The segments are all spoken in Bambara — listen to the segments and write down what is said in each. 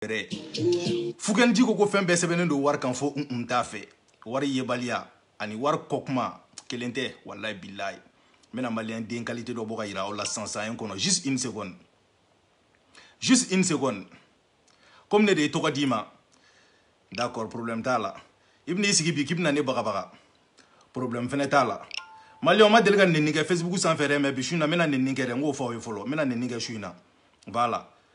yɛrɛ fukɛniji ko ko fɛn bɛɛ sɛbɛnnen don wari kan fo n kun t'a fɛ wari yebaliya ani wari kɔkuma kelen tɛ walayi bilayi n bɛna maliyɛn den kalite dɔ bɔ ka yira aw la sisan n kɔnɔ juste une seconde juste une seconde komi ne de ye tɔgɔ d'i ma d'accord problème t'a la i bɛna i sigi bi k'i bɛna ne bagabaga problème fɛnɛ t'a la maliyɛnw ma deli ka nenni kɛ facebook sanfɛ dɛ mais bi su in na n bɛna nenni kɛ dɛ n k'o fɔ aw ye fɔlɔ n bɛna nenni kɛ su in na voilà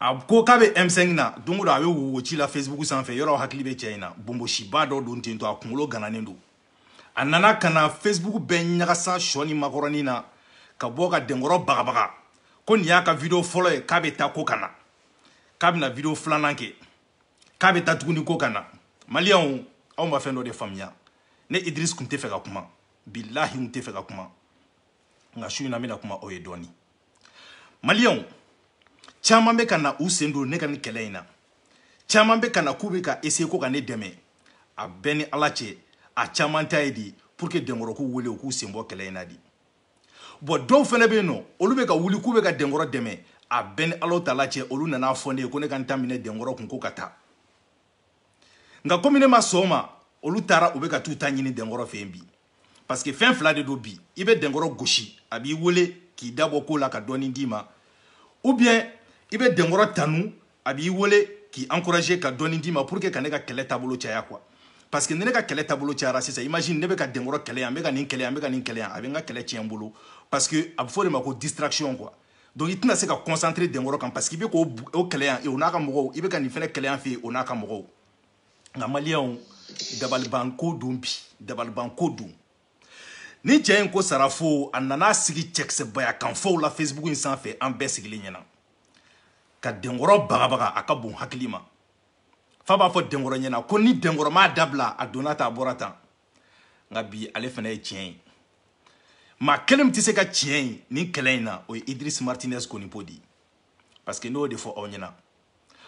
a ko k'a bɛ M5 na don o don a bɛ wo ci la Facebook sanfɛ yɔrɔ hakili bɛ cɛ in na bonbonsiba dɔ don ten to a kunkolo gananen don a nana ka na Facebook bɛɛ ɲagasa sɔ ni makɔrɔni na ka bɔ ka denkɔrɔ bagabaga ko nin y'a ka video fɔlɔ ye k'a bɛ taa ko ka na k'a bɛna video filanan kɛ k'a bɛ taa tuguni ko ka na maliyɛnw aw ma fɛn dɔ de faamuya ne Idriss tun tɛ fɛ ka kuma bilahi n tɛ fɛ ka kuma nka su in na n bɛna kuma aw ye dɔɔni maliyɛnw caman bɛ ka na u sen don ne ka nin kɛlɛ in na caman bɛ ka na k'u bɛ ka essayer ko ka ne dɛmɛ a bɛ n ni ala cɛ a caman ta ye di pour que denkɔrɔ k'u wele u k'u sen bɔ kɛlɛ in na di bon dɔw fɛnɛ bɛ yen nɔ olu bɛ ka wuli k'u bɛ ka denkɔrɔ dɛmɛ a bɛ n ni ala taala cɛ olu nana a fɔ ne ye ko ne ka n ta minɛ denkɔrɔ kun ko ka taa nka komi ne ma sɔn o ma olu taara u bɛ ka t'u ta ɲini denkɔrɔ fɛ yen bi parce que fɛn fila de don bi i bɛ denkɔrɔ gosi a b'i wele k'i da bɔ ko la ka dɔɔni d'i ma ou bien i bɛ denkɔrɔ tanu a b'i wele k'i encourager ka dɔɔni d'i ma pour que ka ne ka kɛlɛ taabolo caya quoi parce que ni ne ka kɛlɛ taabolo cayara sisan imagine ne bɛ ka denkɔrɔ kɛlɛ yan n bɛ ka nin kɛlɛ yan n bɛ ka nin kɛlɛ yan a bɛ n ka kɛlɛ tiɲɛ n bolo parce que a bɛ fɔ o de ma ko distraction quoi donc i tɛna se ka concentrer denkɔrɔ kan parce que i bɛ k'o kɛlɛ yan o n'a ka mɔgɔw i bɛ ka nin fɛnɛ kɛlɛ yan fɛ yen o n'a ka mɔgɔw nka maliyɛnw dabalibanko don bi dabalibanko don ni cɛ in ko sarafo a nana sigi cɛkisɛbaya kanfɔw la facebook in sanfɛ an bɛɛ sigilen ɲɛna ka denkɔrɔ bagabaga a ka bon hakili ma fa b'a fɔ denkɔrɔ ɲɛna ko ni denkɔrɔ m'a dabila a donna tan a bɔra tan nka bi ale fana ye tiɲɛ ye maa kelen min tɛ se ka tiɲɛ ye nin kɛlɛ in na o ye Idriss Martinez Konipo di parce que ne y'o de fɔ aw ɲɛna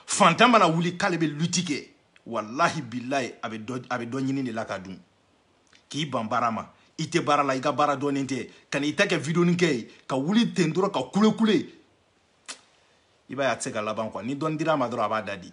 fantan mana wuli k'ale bɛ luti kɛ walahi bilayi a bɛ dɔ a bɛ dɔ ɲini de la ka dun k'i ban baara ma i tɛ baara la i ka baara dɔɔnin tɛ ka n'i ta kɛ videoni kɛ ye ka wuli ten dɔrɔn ka kulekule i b'a ye a tɛ se ka laban quoi ni dɔɔni dira a ma dɔrɔn a b'a da de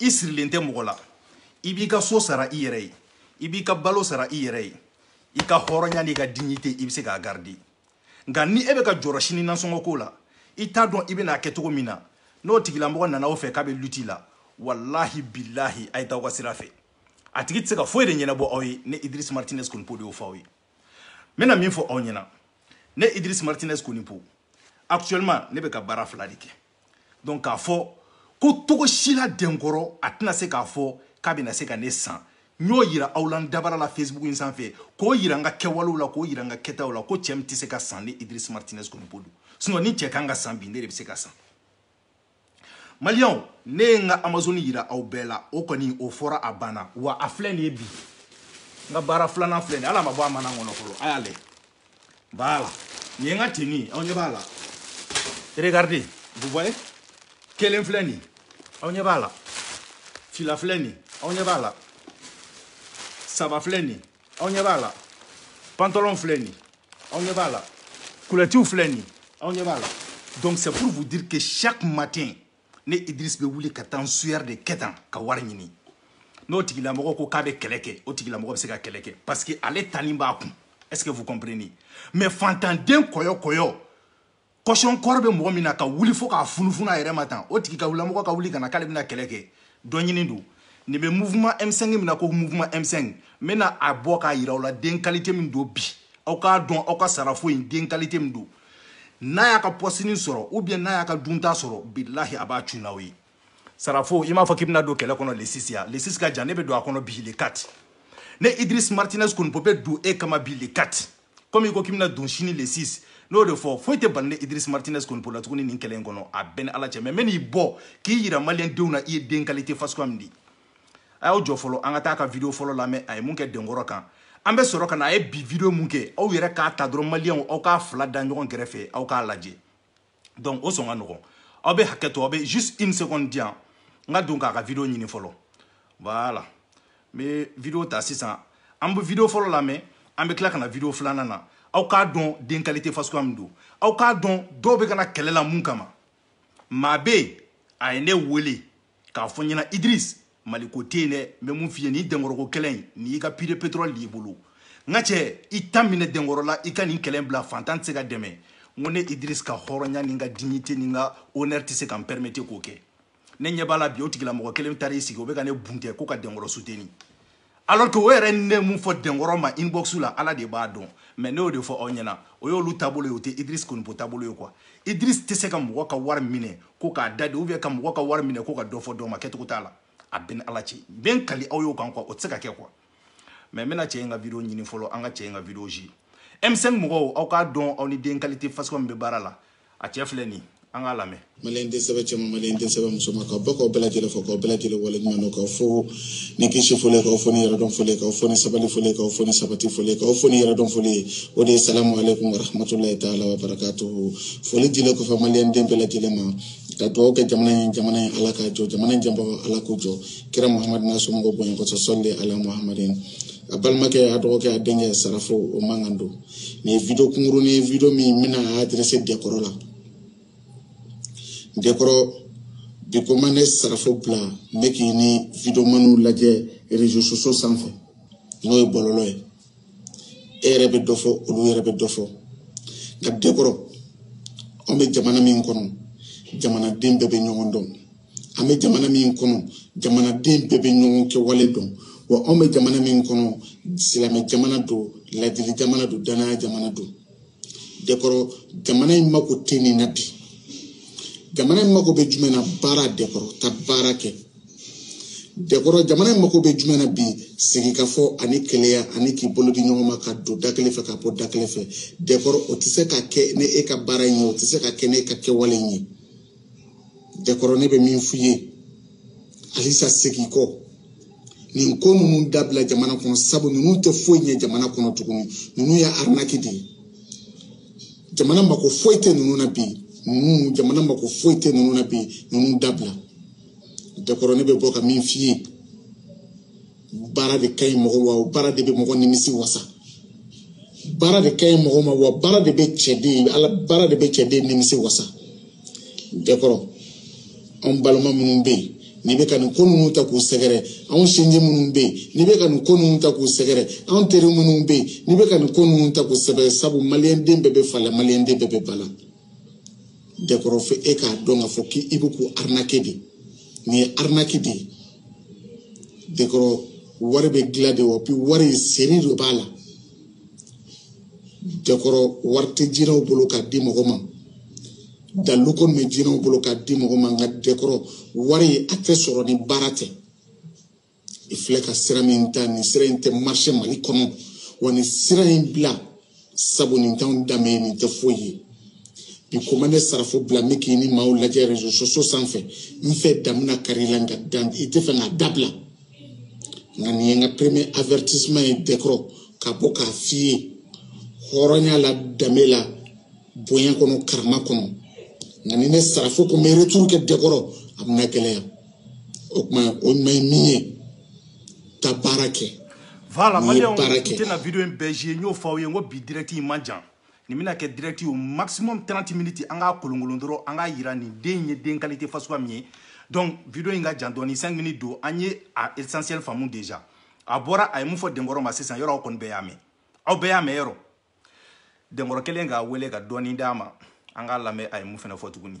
i sirilen tɛ mɔgɔ la i b'i ka so sara i yɛrɛ ye i b'i ka balo sara i yɛrɛ ye i ka hɔrɔnya n'i ka dignité i bɛ se k'a garder nka ni e bɛ ka jɔrɔ sini nasɔngɔ ko la i t'a dɔn i bɛna a kɛ cogo min na n'o tigilamɔgɔ nana aw fɛ k'a bɛ luti la walahi bilahi a ye taa aw ka sira fɛ a tigi tɛ se ka foyi de ɲɛnabɔ aw ye ne Idriss Martinez Konipo de y'o fɔ aw ye n bɛna min fɔ aw ɲɛna ne Idriss Martinez Konipo actuellement ne bɛ ka baara fila de kɛ donc k'a fɔ ko cogo si la denkɔrɔ a tɛna se k'a fɔ k'a bɛna se ka ne san n y'o yira aw la n dabara la facebook in sanfɛ k'o yira n ka kɛwalew la k'o yira n ka kɛtaw la ko cɛ min tɛ se ka san ne idris martinez konipo don sinon ni cɛ kan ka san bi ne de bɛ se ka san maliyɛnw ne ye n ka amazoni yira aw bɛɛ la o kɔni o fɔra a banna wa a filɛ nin ye bi n ka baara filanan filɛ nin ye hali a ma bɔ a mana kɔnɔ fɔlɔ a y'a lajɛ Voilà. Nin ye n ka tenue ye aw ɲɛ b'a la regardez vous voyez kelen filɛ nin aw ɲɛ b'a la fila filɛ nin aw ɲɛ b'a la saba filɛ nin aw ɲɛ b'a la pantalon filɛ nin aw ɲɛ b'a la kulɔtiw filɛ nin aw ɲɛ b'a la donc c'est pour vous dire que chaque matin ne idris bɛ wuli ka taa n sueur de kɛ tan ka wari ɲini n'o tigilamɔgɔ ko k'a bɛ kɛlɛ kɛ o tigilamɔgɔ bɛ se ka kɛlɛ kɛ parce que ale tani b'a kun est ce que vous comprenez mais fantanden kɔyɔ kɔyɔ kɔsɔn kɔngɔ bɛ mɔgɔ min na ka wuli fo k'a funufunu a yɛrɛ ma tan o tigilamɔgɔ ka wuli ka na k'ale bɛna kɛlɛ kɛ dɔ ɲini don nin bɛ mouvement m5 min na ko mouvement m5 n bɛna a bɔ k'a yira aw la den qualité min don bi aw k'a dɔn aw ka sarafo in den qualité min don n'a y'a ka pɔsini sɔrɔ ou bien n'a y'a ka dunta sɔrɔ bilahi a b'a cun n'aw ye sarafo i m'a fɔ k'i bɛna don kɛlɛ kɔnɔ le 6 ya le 6 ka jan ne bɛ don a kɔnɔ bi le 4 ne idris martinez konipo bɛ don e kama bi le 4 komi i ko k'i bɛna don sini le 6 n'o de fɔ foyi tɛ bali ne idris martinez konipo la tuguni nin kɛlɛ in kɔnɔ a bɛ n ni ala cɛ mais n bɛ n'i bɔ k'i yira maliyɛndenw na i ye den qualité fasuguya min di a y'aw jɔ fɔlɔ an ka taa ka video fɔlɔ lamɛn a ye mun kɛ denkɔrɔ kan an bɛ sɔrɔ ka na a ye bi video mun kɛ aw yɛrɛ k'a ta dɔrɔn maliyɛnw aw k'a fila da ɲɔgɔn kɛrɛfɛ aw k'a lajɛ donc o sɔn ka nɔgɔn aw bɛ hakɛ to aw bɛ juste une seconde di yan n ka don k'a ka video ɲini fɔlɔ voilà n bɛ video ta sisan an bɛ video fɔlɔ lamɛn an bɛ tila ka na video filanan na aw k'a dɔn den qualité fasuguya min don aw k'a dɔn dɔw bɛ ka na kɛlɛ la mun kama maa bɛ yen a ye ne wele k'a fɔ n ɲɛna idris maliko tɛ yen dɛ n bɛ mun f'i ye nin denkɔrɔko kɛlɛ in nin y'i ka puits de pétrole de y'i bolo n ka cɛ i ta minɛ denkɔrɔ la i ka nin kɛlɛ in bila fantan tɛ se ka dɛmɛ n ko ne idris ka hɔrɔnya ni n ka dignité ni n ka honneur tɛ se ka n permettre k'o kɛ ne ɲɛ b'a la bi o tigilamɔgɔ kelen taara i sigi o bɛ ka ne buntɛ ko ka denkɔrɔ soutenir alors que o yɛrɛ ni ne mun fɔ denkɔrɔ ma inbox la ala de b'a dɔn mais ne y'o de fɔ aw ɲɛna o y'olu taabolo ye o tɛ idris konipo taabolo ye quoi idris tɛ se ka mɔgɔ ka wari minɛ ko k'a da de ou bien ka mɔgɔ ka wari minɛ ko ka dɔ fɔ dɔ ma kɛcogo t'a la a bɛ n ni ala cɛ n bɛ n kali aw y'o kan quoi o tɛ se ka kɛ quoi mais n bɛna cɛ in ka video ɲini fɔlɔ an ka cɛ in ka video ji m5 mɔgɔw aw k'a dɔn aw ni den qualité fasuguya min bɛ baara la a cɛ filɛ nin an k'a lamɛn maliyɛn den sɛbɛ cɛman maliyɛn den sɛbɛ musoman k'aw bɛɛ k'aw bɛɛ lajɛlen fo k'aw bɛɛ lajɛlen wale ɲuman dɔn k'aw fo ni kisi foli k'aw fo ni yɛrɛdɔn foli k'aw fo ni sabali foli k'aw fo ni sabati foli k'aw fo ni yɛrɛdɔn foli o de ye salamu aleykum warahmatulahi taala wa barakatuhu foli dilen kɔfɛ maliyɛn den bɛɛ lajɛlen ma ka dugawu kɛ jamana ye jamana ye ala k'a jɔ jamana janbagaw ala k'u jɔ kira muhamadu n'a somɔgɔw bonya kɔsɔn sɔli ala muhamadin aw balimakɛ aw dɔgɔkɛ aw denkɛ sarafo kumakan don nin ye video kunkurunin ye video min n bɛna adresser dɛkɔrɔ la dɛkɔrɔ bi ko ma ne sarafo bila n bɛ k'i ni videomaniw lajɛ réseaux sociaux sanfɛ n'o ye bɔlɔlɔ ye e yɛrɛ bɛ dɔ fɔ olu yɛrɛ bɛ dɔ fɔ nka dɛkɔrɔ anw bɛ jamana min kɔnɔ jamanaden bɛɛ bɛ ɲɔgɔn dɔn an bɛ jamana min kɔnɔ jamanaden bɛɛ bɛ ɲɔgɔn kɛwale dɔn wa anw bɛ jamana min kɔnɔ silamɛ jamana don ladili jamana don danaya jamana don dekɔrɔ jamana in mako tɛ nin na bi jamana in mako bɛ jumɛn na baara dekɔrɔ ka baara kɛ dekɔrɔ jamana in mako bɛ jumɛn na bi sigikafɔ ani kelenya ani k'i bolo di ɲɔgɔn ma ka don da kelen fɛ ka bɔ da kelen fɛ dekɔrɔ o tɛ se ka kɛ ni e ka baara in ye o tɛ se ka kɛ ni e ka kɛwale in ye dɛkɔrɔ ne bɛ min f'i ye halisa segin kɔ nin ko ninnu dabila jamana kɔnɔ sabu ninnu tɛ foyi ɲɛ jamana kɔnɔ tuguni ninnu ye arinaki de ye jamana mako foyi tɛ ninnu na bi ninnu jamana mako foyi tɛ ninnu na bi ninnu dabila dɛkɔrɔ ne bɛ bɔ ka min f'i ye baara de ka ɲi mɔgɔ ma wa baara de bɛ mɔgɔ nimisi wasa baara de ka ɲi mɔgɔ ma wa baara de bɛ cɛden ala baara de bɛ cɛden nimisi wasa dɛkɔrɔ anw balima minnu bɛ yen n'i bɛ ka nin ko ninnu ta k'u sɛgɛrɛ anw sinji minnu bɛ yen n'i bɛ ka nin ko ninnu ta k'u sɛgɛrɛ anw teri minnu bɛ yen n'i bɛ ka nin ko ninnu ta k'u sɛgɛrɛ sabu maliyɛnden bɛɛ bɛ fa la maliyɛnden bɛɛ bɛ ba la dɛkɔrɔ fo e k'a dɔn k'a fɔ k'i bɛ k'u arinake de nin ye arinaki de ye dɛkɔrɔ wari bɛ dilan de wa puis wari seri de b'a la dɛkɔrɔ wari tɛ jinɛw bolo k'a di mɔgɔ ma dalu kɔni bɛ jinɛw bolo k'a di mɔgɔ ma nka dɛkɔrɔ wari a tɛ sɔrɔ ni baara tɛ. i filɛ ka sira min ta nin sira in tɛ marcher mali kɔnɔ wa nin sira in bila sabu nin t'anw danbe ye nin tɛ foyi ye bi ko ma ne sarafo bila n bɛ k'i ni maaw lajɛ réseaux sociaux sanfɛ n fɛ dan bɛna kari la nka dan i tɛ fɛ k'a dabila nka nin ye n ka premier avertissement ye dɛkɔrɔ ka bɔ k'a f'i ye hɔrɔnya la danbe la bonya kɔnɔ karama kɔnɔ nka ni ne sarafo ko n bɛ retour kɛ dɛkɔrɔ a bɛna gɛlɛya o tuma o ma ye min ye ka baara kɛ voilà maliyɛnw n tɛna video in bɛɛ jouer n y'o fɔ aw ye n ko bi direct in man jan nin bɛna kɛ direct ye maximum 30 minutes an k'a kolonkolon dɔrɔn an k'a jira nin den in ye den qualité fasuguya min ye donc video in ka jan dɔɔni 5 minutes don an ye a essentiel faamu déjà a bɔra a ye mun fɔ denkɔrɔ ma sisan yɔrɔ aw kɔni bɛɛ y'a mɛn aw bɛɛ y'a mɛn yɔrɔ denkɔrɔ kelen k'a wele ka dɔɔni d'a ma an k'a lamɛn a ye mun fana fɔ tuguni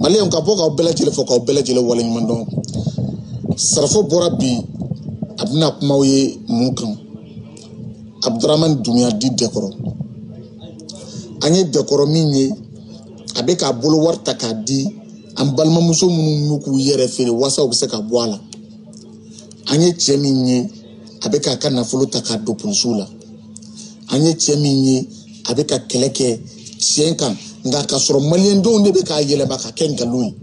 maliyɛnw ka bɔ k'aw bɛɛ lajɛlen fo k'aw bɛɛ lajɛlen waleɲuman dɔn sarafo bɔra bi a bɛna kuma aw ye mun kan abudurahmani dumbiya dit dɛnkɔrɔ an ye dɛnkɔrɔ min ye a bɛ k'a bolo wari ta k'a di an balimamuso minnu y'u k'u yɛrɛ feere walasa u bɛ se ka bɔ a la an ye cɛ min ye a bɛ k'a ka nafolo ta k'a don polisiw la an ye cɛ min ye a bɛ ka kɛlɛ kɛ tiɲɛ kan nka k'a sɔrɔ maliyɛndenw de bɛ k'a yɛlɛma ka kɛ nkalon ye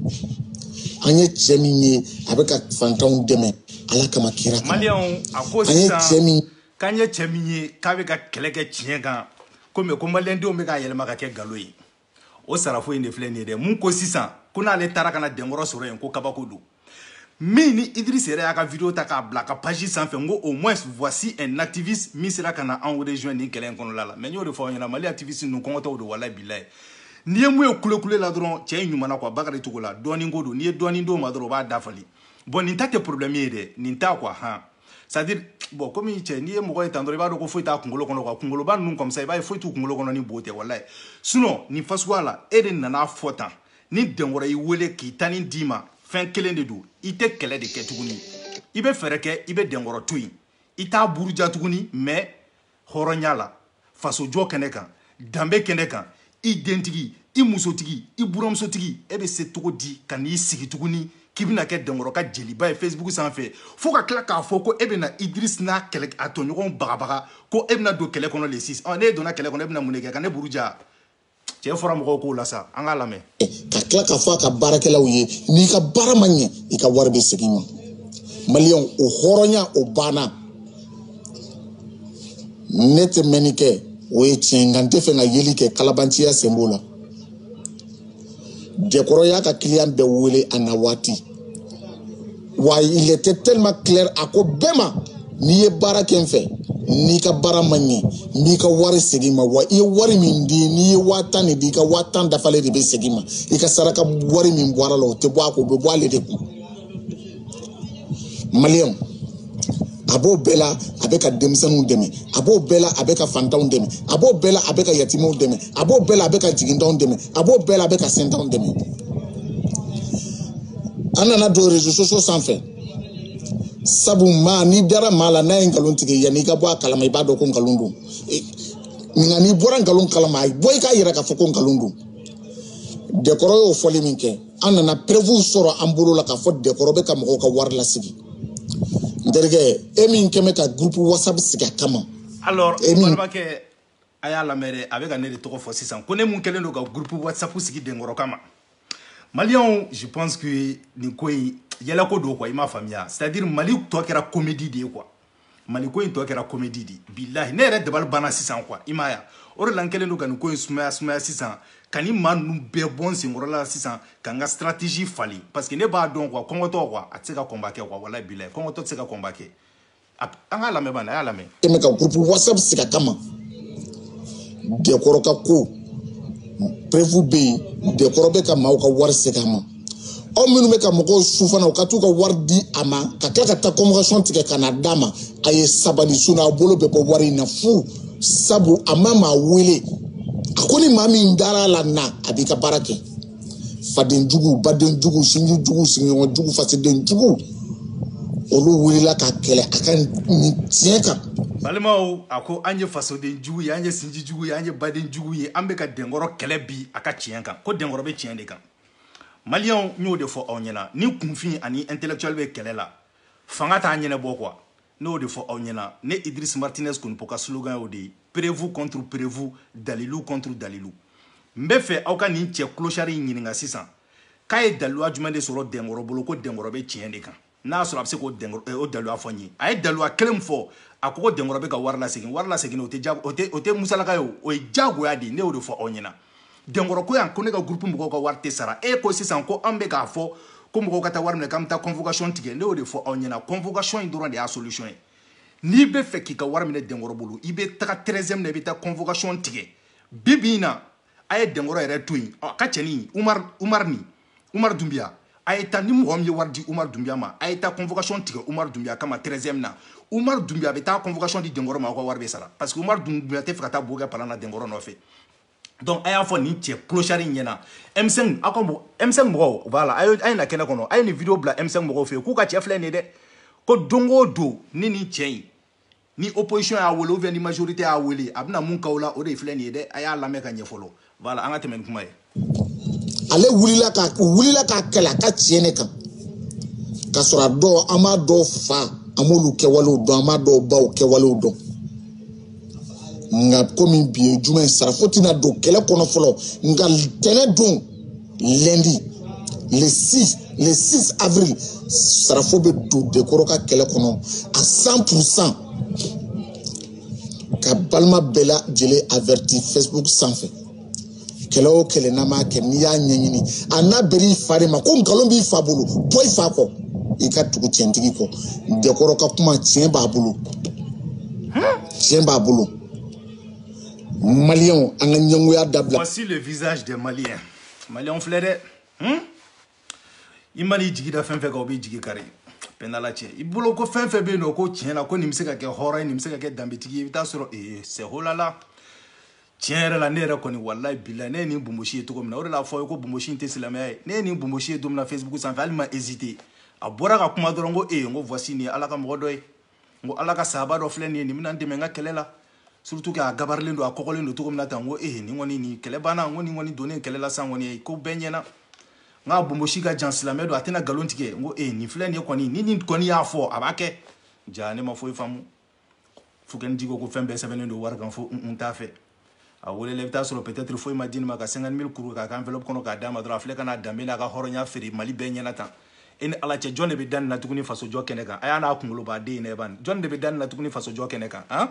an ye cɛ min ye a bɛ ka fantanw dɛmɛ ala kama kira kan maliyɛnw a ko an ye cɛ sisan min k'an ye cɛ min ye k'a bɛ ka kɛlɛ kɛ tiɲɛ kan ko mais ko maliyɛndenw bɛ k'a yɛlɛma ka kɛ nkalon ye o sarafo in de filɛ nin ye dɛ mun ko sisan ko n'ale taara ka na dɛnkɔrɔ sɔrɔ yen ko kabako don min ni idris yɛrɛ y'a ka video ta k'a bila a ka page sanfɛ n ko au moins voici un activiste min sera ka na anw rejoindre nin kɛlɛ in kɔnɔla la mais n y'o de fɔ aw ɲɛna mali activiste ninnu kɔngɔtɔw don walayi bilayi n'i ye min ye kulekule la dɔrɔn cɛ in ɲumana quoi bakari cogo la dɔɔnin ko don n'i ye dɔɔnin d'o ma dɔrɔn o b'a dafali bon nin ta tɛ problème ye dɛ nin ta quoi han c'est à dire bon comme il cɛ n'i ye mɔgɔ ye tan dɔrɔn i b'a dɔn ko foyi t'a kunkolo kɔnɔ quoi kunkoloba ninnu comme ça i b'a ye foyi t'u kunkolo kɔnɔ ni bo tɛ walayi sinon nin fasuguya la e de nan'a fɔ tan ni dɛnkɔrɔ y'i wele k'i tani d'i ma fɛn kelen de don i tɛ kɛlɛ de kɛ tuguni i bɛ fɛɛrɛ kɛ i bɛ dɛnkɔrɔ to yen i t'a buruja tuguni mais hɔrɔnya la fasojɔ kɛnɛ kan danbe kɛnɛ kan i dentigi i musotigi i buramusotigi e bɛ se cogo di ka n'i sigi tuguni k'i bɛna kɛ dɛnkɔrɔ ka jeliba ye facebook sanfɛ fo ka tila k'a fɔ ko e bɛna idris n'a kɛlɛ a tɔɲɔgɔnw bagabaga ko e bɛna don kɛlɛ kɔnɔ le 6 ɔ n'e donna kɛlɛ kɔnɔ e bɛna mun de kɛ ka ne buruja cɛ fɔra mɔgɔw ko la sa an k'a lamɛn ka tila k'a fɔ a ka baarakɛlaw ye n'i ka baara ma ɲɛ i ka wari bɛ segin ma maliyɛnw o hɔrɔnya o banna ne tɛ mɛnni kɛ o ye tiɲɛ nka n tɛ fɛ ka yeli kɛ kalabanciya sen b'o la dɛnkɔrɔ y'a ka client bɛɛ wele a na waati wa il était tellement clair a ko bɛɛ ma n'i ye baara kɛ n fɛ n'i ka baara ma ɲɛ n b'i ka wari segin ma wa i ye wari min di n'i ye waa tan de di i ka waa tan dafalen de bɛ segin ma i ka saraka wari min bɔr'a la o tɛ bɔ a ko o bɛ bɔ ale de kun maliyɛnw a b'o bɛɛ la a bɛ ka denmisɛnninw dɛmɛ a b'o bɛɛ la a bɛ ka fantanw dɛmɛ a b'o bɛɛ la a bɛ ka yatimaw dɛmɛ a b'o bɛɛ la a bɛ ka jigintanw dɛmɛ a b'o bɛɛ la a bɛ ka sentanw dɛmɛ an nana don réseaux sociaux sanfɛ sabu maa n'i dara maa la n'a ye nkalon tigɛ yanni i ka bɔ a kalama i b'a dɔn ko nkalon don nka n'i bɔra nkalon kalama a bɔ i k'a yira k'a fɔ ko nkalon don denkɔrɔ y'o fɔli min kɛ an nana preuve sɔrɔ an bolo la k'a fɔ denkɔrɔ bɛ ka mɔgɔw ka wari lasigi n terikɛ e min kɛ bɛ ka groupe whatsapp sigi a kama alors e balimakɛ a y'a lamɛn dɛ a bɛ ka ne de tɔgɔ fɔ sisan ko ne mun kɛlen don ka groupe whatsapp sigi denkɔrɔ kama maliyɛnw je pense que nin ko in yɛlɛko don quoi i m'a faamuya c'est à dire mali tɔ kɛra comédie de ye quoi mali ko in tɔ kɛra comédie de bilahi ne yɛrɛ dabali banna sisan quoi i m'a ye o de la n kɛlen don ka nin ko in sumaya sumaya sisan ka nin maa ninnu bɛɛ bɔ n senkɔrɔ la sisan ka n ka stratégie falen parce que ne b'a dɔn quoi kɔngɔtɔ quoi a tɛ se ka combat kɛ quoi walayi bilahi kɔngɔtɔ tɛ se ka combat kɛ an k'a lamɛn bani a y'a lamɛn tɛmɛ ka groupe whatsapp sigi a kama denkɔrɔ ka ko preuve bɛ yen denkɔrɔ bɛ ka maaw ka wari segin a ma aw minnu bɛ ka mɔgɔw su fana u ka t'u ka wari di a ma ka tila ka taa convocation tigɛ ka na d'a ma a ye sabali sinon a bolo bɛ bɔ wari in na fu sabu a ma maa wele a ko ni maa min dara ala na a b'i ka baara kɛ faden jugu baden jugu sinji jugu sigiɲɔgɔn jugu fasoden jugu olu wulila k'a kɛlɛ a ka nin tiɲɛ kan balimaw a ko an ye fasoden jugu ye an ye sinji jugu ye an ye baden jugu ye an bɛ ka denkɔrɔ kɛlɛ bi a ka tiɲɛ kan ko denkɔrɔ bɛ tiɲɛ de kan maliyɛnw n y'o de fɔ aw ɲɛna ni kunfin ani intellectuel bɛ kɛlɛ la fanga t'a ɲɛnabɔ quoi ne y'o de fɔ aw ɲɛna ne idris martinez konipo ka slogan y'o de ye preuve contre preuve dalilu contre dalilu n b'a fɛ aw ka nin cɛ clochard in ɲininka sisan k'a ye daliluya jumɛn de sɔrɔ denkɔrɔ bolo ko denkɔrɔ bɛ tiɲɛ de kan n'a sɔrɔ a bɛ se k'o eh, daliluya fɔ n ye a ye daliluya kelen fɔ a ko ko denkɔrɔ bɛ ka wari lasegin wari lasegin o tɛ jago o tɛ o tɛ musalaka ye o ye jagoya de ye ne y'o de fɔ aw ɲɛna denkɔrɔ ko yan ko ne ka groupe mɔgɔw ka wari tɛ sara e ko sisan ko an bɛ k'a fɔ ko mɔgɔw ka taa wari minɛ k'an bɛ taa convocation tigɛ ne y'o de fɔ aw ɲɛna convocation in dɔrɔn de y'a solution ye n'i b'a fɛ k'i ka wari minɛ denkɔrɔ bolo i bɛ taga treizième na i bɛ taa convocation tigɛ bi bi in na a ye denkɔrɔ yɛrɛ to yen a ka cɛnin umar umar ni umar dunbiya a ye taa ni mɔgɔ min ye wari di umar dunbiya ma a ye taa convocation tigɛ umar dunbiya kama treizième na umar dunbiya a bɛ taa convocation di denkɔrɔ ma aw ka wari bɛ sara parce que umar dunbiya t'a fɛ ka taa bo kɛ palan na denkɔrɔ nɔfɛ donc a y'a fɔ nin cɛ clochard in ɲɛna M5 aw ka M5 mɔgɔw voilà a ye na kɛnɛ kɔnɔ a ye nin vidéo bila M5 mɔgɔw fɛ yen k'u ka cɛ filɛ nin ye dɛ ko don o don ni nin cɛ in ni opposition y'a wele ou bien ni majorité y'a wele a bɛna mun k'aw la o de filɛ nin ye dɛ a y'a lamɛn ka ɲɛ fɔlɔ voilà an ka tɛmɛ ni kuma ye ale wulila k'a kɛlɛ a ka tiɲɛ de kan k'a sɔrɔ a dɔw an b'a dɔw fa an b'olu kɛwalew dɔn an b'a dɔw baw kɛwalew dɔn nka komi bi ye juma ye sarafo tɛna don kɛlɛ kɔnɔ fɔlɔ nka tɛnɛ don lundi le 6 avril sarafo bɛ don denkɔrɔ ka kɛlɛ kɔnɔ à 100 pour cent ka balima bɛɛ lajɛlen averti facebook sanfɛ kɛlɛ o kɛlɛ n'an b'a kɛ n'i y'a ɲɛɲini a na bɛr'i fa de ma ko nkalon b'i fa bolo bɔ i fa kɔ i ka tugu tiɲɛtigi kɔ denkɔrɔ ka kuma tiɲɛ b'a bolo tiɲɛ b'a bolo. maliyɛnw an ka ɲɛngoya dabila voici le visage des maliens maliyɛnw filɛ dɛ hmm? i mana i jigi da fɛn fɛn kan o b'i jigi kari pɛndala cɛ i bolo ko fɛn fɛn bɛ yen nɔ ko tiɲɛ na ko nin bɛ se ka kɛ hɔrɔn ye nin bɛ se ka kɛ danbetigi ye i bɛ taa sɔrɔ ee c'est holala tiɲɛ yɛrɛ la ne yɛrɛ kɔni walayi bilayi ne ye nin bonbosi ye cogo min na o de la a fɔ ye ko bonbosi in tɛ silamɛya ye ne ye nin bonbosi ye don min na facebook sanfɛ hali n ma hésité a bɔra ka kuma dɔrɔn ko ee n ko voici nin ye ala ka mɔgɔ dɔ ye n ko ala ka sahaba dɔ filɛ nin ye nin bɛna n dɛmɛ n ka kɛlɛ la surtout k'a gabarilen don a kɔgɔlen don cogo min na tan n ko ee nin kɔni nin kɛlɛ banna n ko nin kɔni donnen kɛlɛ la sisan kɔni ko bɛɛ ɲɛna n k'a bonbosi ka jan silamɛ don a tɛna nkalon tigɛ n ko ee nin filɛ nin ye kɔni ni nin kɔni y'a fɔ a b'a kɛ jaa ne ma foyi faamu fouken j ko ko fɛn bɛɛ sɛbɛnnen don wari kan fo n t'a fɛ a welela i bɛ taa sɔrɔ peut-être foyi ma di nin ma ka 50 000 kuru k'a kɛ enveloppe kɔnɔ k'a d'a ma dɔrɔn a filɛ ka n'a danbe n'a ka hɔrɔnya feere mali bɛɛ ɲɛna tan e ni ala cɛ jɔn de bɛ da nin na tuguni fasojɔ kɛnɛ kan a y'a n'a kunkoloba den in lajɛ ban jɔn de bɛ da nin na tuguni fasojɔ kɛnɛ kan han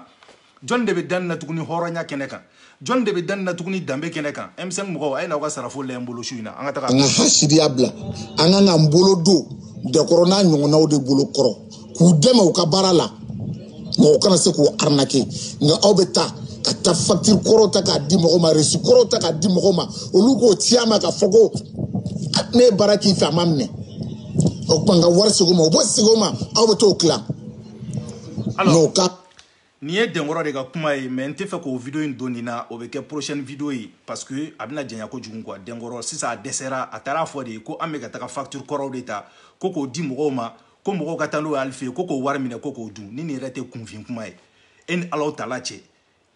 jɔn de bɛ da nin na tuguni hɔrɔnya kɛnɛ kan jɔn de bɛ da nin na tuguni danbe kɛnɛ kan M5 mɔgɔw a ye n'aw ka sarafo lajɛ n bolo su in na an ka taga an ka hasidiya bila an kan k'an bolo don denkɔrɔ n'a ɲɔgɔnnaw de bolo kɔrɔ k'u dɛmɛ u ka baara la mɔgɔ kana se k'u arnaquer nka aw bɛ taa ka taa facture kɔrɔ ta k'a di mɔgɔ ma reçu kɔrɔ ta k'a di mɔgɔ ma olu k'o ci a ma k'a fɔ ko ne ye baara k'i fɛ a ma minɛ o tuma n ka wari segin o ma o bɛ segin o ma aw bɛ t'o tila n'o ka nin ye denkɔrɔ de ka kuma ye mais n tɛ fɛ k'o video in don nin na o bɛ kɛ prochaine video ye parce que a bɛna janya kojugu quoi denkɔrɔ sisan a dɛsɛra a taara fɔ de ko an bɛ ka taga facture kɔrɔw de ta ko k'o di mɔgɔw ma ko mɔgɔw ka taa n'o ye ale fɛ yen ko k'o wari minɛ ko k'o dun ni nin yɛrɛ tɛ kunfin kuma ye e ni ala tala cɛ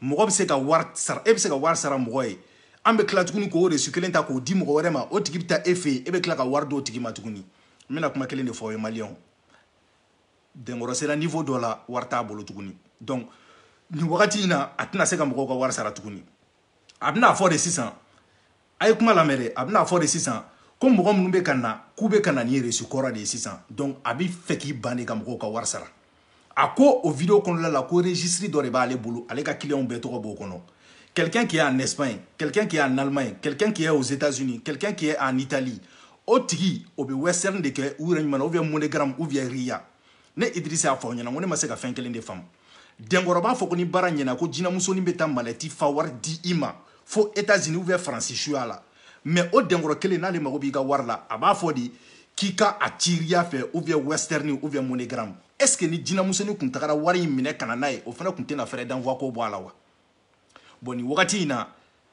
mɔgɔ bɛ se ka wari sara e bɛ se ka wari sara mɔgɔ ye an bɛ tila tuguni k'o reçu kelen ta k'o di mɔgɔ wɛrɛ ma o tigi bɛ taa e fɛ yen e bɛ tila ka wari d'o tigi ma tuguni n bɛna kuma kelen de fɔ aw ye maliyɛnw dɛnkɔrɔ sera niveau dɔ la wari t'a bolo tuguni donc nin wagati in na a tɛna se ka mɔgɔw ka wari sara tuguni a bɛna fɔ de sisan a ye kuma lamɛn dɛ a bɛna fɔ de sisan ko mɔgɔ minnu bɛ ka na k'u bɛ ka na ni reçu kɔrɔ de ye sisan donc a bɛ fɛ k'i ban de ka mɔgɔw ka wari sara a ko o video kɔnɔna la ko registre dɔ de b'ale bolo ale ka clients bɛɛ tɔgɔ b'o kɔnɔ quelqu'un qui est en Espagne quelqu'un qui est en Allemagne quelqu'un qui est aux États-Unis quelqu'un qui est en Italie o tigi o bɛ western de kɛ u yɛrɛ ɲuman na ou bien MoneyGram ou bien Ria ne Idriss y'a fɔ aw ɲɛna ko ne ma se ka fɛn kelen de faamu dɛnkɔrɔ b'a fɔ ko ni baara ɲɛna ko jinɛmusonin bɛ taa malɛti fa wari di i ma fo États-Unis ou bien faransi suya la mais o dɛnkɔrɔ kelen n'ale mago b'i ka wari la a b'a fɔ de k'i ka a ci Ria fɛ ou bien western ou bien MoneyGram est-ce que ni jinɛmusonin kun tagara wari in minɛ ka na n'a ye o fana kun tɛna frais d'envoi ko bɔ a la wa bon nin wagati in na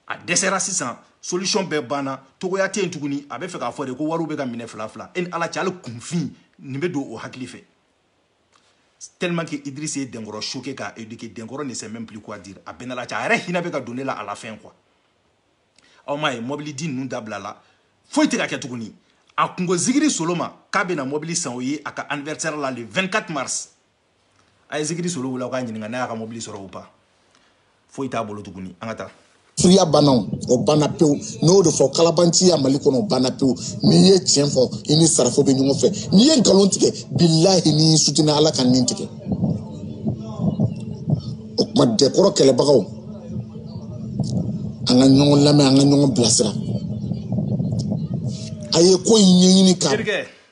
a dɛsɛra sisan solution bɛɛ banna togoya tɛ yen tuguni a bɛ fɛ k'a fɔ de ko wariw bɛ ka minɛ fila fila e ni ala cɛ hali kunfin nin bɛ don o hakili fɛ tellement que Idriss ye Denkɔrɔ choqué k'a éduquer Denkɔrɔ ne sait même plus quoi dire a bɛnna la cɛ a yɛrɛ hinɛ bɛ ka don ne la à la fin quoi aw m'a ye mɔbili di ninnu dabila la foyi tɛ ka kɛ tuguni a kun ko zikiri solo ma k'a bɛna mɔbili san o ye a ka anniversaire la le 24 mars a ye zikiri solo wele aw k'a ɲininka n'a y'a ka mobili sɔrɔ ou pas foyi t'a bolo tuguni an ka taa suya banna o banna pewu n'o de fɔ kalabanciya mali kɔnɔ o banna pewu n'i ye tiɲɛ fɔ i ni sarafo bɛ ɲɔgɔn fɛ n'i ye nkalon tigɛ bilahi n'i y'i sutina ala ka nin tigɛ o tuma dɛnkɔrɔ kɛlɛbagaw an ka ɲɔgɔn lamɛn an ka ɲɔgɔn bilasira a ye ko in ɲɛɲini ka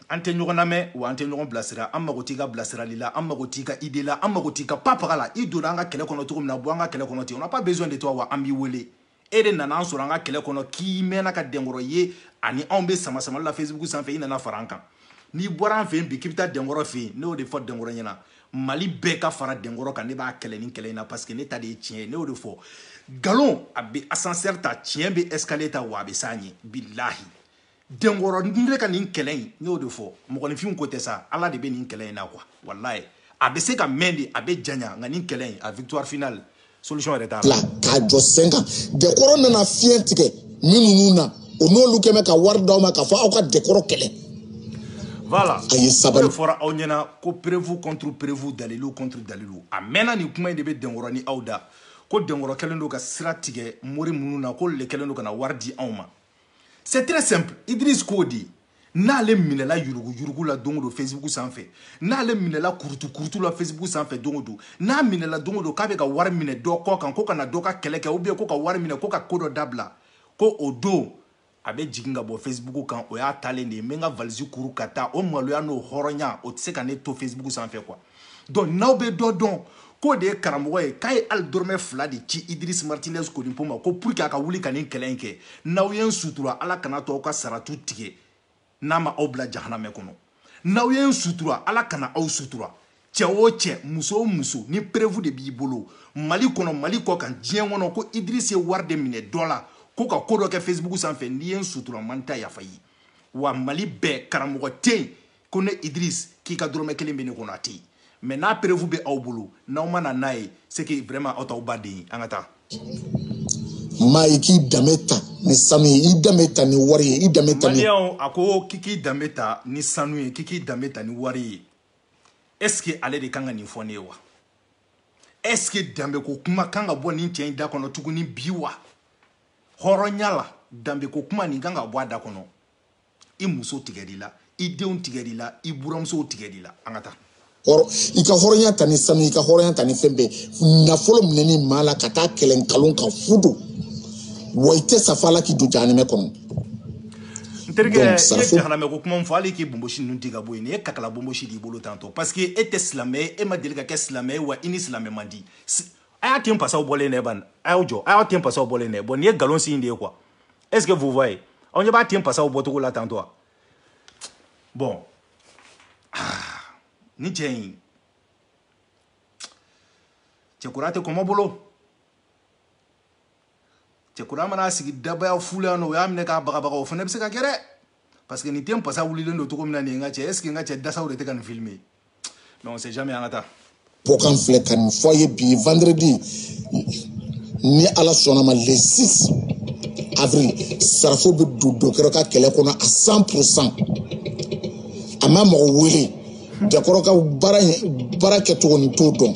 an tɛ ɲɔgɔn lamɛn wa an tɛ ɲɔgɔn bilasira an mago t'i ka bilasirali la an mago t'i ka idée la an mago t'i ka pa paga la i donna an ka kɛlɛ kɔnɔ cogo min na bɔ an ka kɛlɛ kɔnɔ ten on n'a pas besoin de toi wa an m'i wele e de nana an sɔrɔ an ka kɛlɛ kɔnɔ k'i mɛnna ka dɛnkɔrɔ ye ani anw bɛ sama samali la facebook sanfɛ i nana fara an kan n'i bɔra an fɛ yen bi k'i bɛ taa dɛnkɔrɔ fɛ yen ne y'o de fɔ dɛnkɔrɔ ɲɛna mali bɛɛ ka fara dɛnkɔrɔ kan ne b'a kɛlɛ nin kɛlɛ in na parce que ne ta de ye tiɲɛ ye ne y'o de fɔ nkalon a bɛ ascenseur ta tiɲɛ bɛ escalier ta wa a bɛ s'a ɲɛ bilahi dɛnkɔrɔ ne ka nin kɛlɛ in n y'o de fɔ mɔgɔninfin ko tɛ sa ala de bɛ nin kɛlɛ in na quoi walayi a bɛ se ka mɛn de a bɛ janya nka nin kɛlɛ in a victoire finale solution yɛrɛ t'a la k'a jɔ sen kan dɛnkɔrɔ nana fiɲɛ tigɛ minnu na o n'olu kɛ bɛ ka wari d'aw ma k'a fɔ aw ka dɛnkɔrɔ kɛlɛ voilà a ye sabali o de fɔra aw ɲɛna ko prévu contre prévu dalilu contre dalilu a mɛnna nin kuma in de bɛ dɛnkɔrɔ ni aw da ko dɛnkɔrɔ kɛlen don ka sira tigɛ mori minnu na k'olu de kɛlen don ka na wari di anw ma c'est très simple idris ko di n'ale minɛla yuruguyurugu la don o don facebook sanfɛ n'ale minɛla kurutukurutu la facebook sanfɛ don o don n'a minɛla don o don k'a bɛ ka wari minɛ dɔ kɔ kan ko ka na dɔ ka kɛlɛ kɛ ou bien ko ka wari minɛ ko ka ko dɔ dabila ko o don a bɛ jigin ka bɔ facebook kan o y'a taalen de ye n bɛ n ka valisi kuru ka taa o maloya n'o hɔrɔnya o tɛ se ka ne to facebook sanfɛ quoi donc n'aw bɛ dɔ dɔn k'o de ye karamɔgɔ ye k'a ye hali dɔrɔmɛ fila de ci idris martinez konipo ma ko pour que a ka wuli ka nin kɛlɛ in kɛ n'aw ye n sutura ala kana to aw ka saratu tigɛ n'a ma aw bila jahanamɛ kɔnɔ n'aw ye n sutura ala kana aw sutura cɛ o cɛ muso o muso ni preuve de b'i bolo mali kɔnɔ mali kɔ kan diɲɛ kɔnɔ ko idris ye wari de minɛ dɔ la ko ka ko dɔ kɛ facebook sanfɛ n'i ye n sutura n ma n ta yafa i ye wa mali bɛɛ karamɔgɔ tɛ yen ko ne idris k'i ka dɔrɔmɛ kelen bɛ ne kɔnɔ a tɛ yen mais n'a preuve bɛ aw bolo n'aw ma na n'a ye c'est que vraiment aw t'aw ba den ye an ka taa maa ye k'i danbe ta ni sanu ye i danbe ta ni wari ye i danbe ta ni maliyɛnw a ko k'i k'i danbe ta ni sanu ye k'i k'i danbe ta ni wari ye est ce que ale de kan ka nin fɔ ne ye wa est ce que danbe ko kuma kan ka bɔ nin cɛ in da kɔnɔ tuguni bi wa hɔrɔnya la danbe ko kuma nin kan ka bɔ a da kɔnɔ i muso tigɛr'i la i denw tigɛr'i la i buramusow tigɛr'i la an ka taa i ka hɔrɔnya ta ni sanu i ka hɔrɔnya ta ni fɛn bɛɛ nafolo minɛni maa la ka taa kɛlɛ nkalon kan fu don wa i tɛ sa f'ala k'i don jahanamɛ kɔnɔ n terikɛ i ye jahanamɛ ko kuma min fɔ hali k'i bonbosi ninnu di ka bɔ yen nin ye kakala bonbosi d'i bolo tantɔ parce que e tɛ silamɛ ye e ma deli ka kɛ silamɛ ye wa i ni silamɛ man di a y'a ten pasaw bɔlen dɛ ban a y'aw jɔ a y'a ten pasaw bɔlen dɛ bon nin ye nkalon si in de ye quoi est ce que vous voyez aw ɲɛ b'a ten pasaw bɔcogo la tantɔ wa bon ni cɛ in cɛkura tɛ kɔmɔ bolo cɛkura mana sigi dabaya fu la yan nɔ o y'a minɛ k'a bagabaga o fana bɛ se ka kɛ dɛ parce que nin ten pasa wulilen don cogo min na nin ye n ka cɛ est ce que n ka cɛ dasaw de tɛ ka nin filmer mais on sait jamais an ka taa bon n kan filɛ ka nin fɔ aw ye bi vendredi ni ala sɔnna ma le 6 avril sarafo bɛ don dokɛrɛ ka kɛlɛ kɔnɔ à 100 pourcent a ma mɔgɔ wele denkɔrɔ ka baara kɛcogo ne t'o dɔn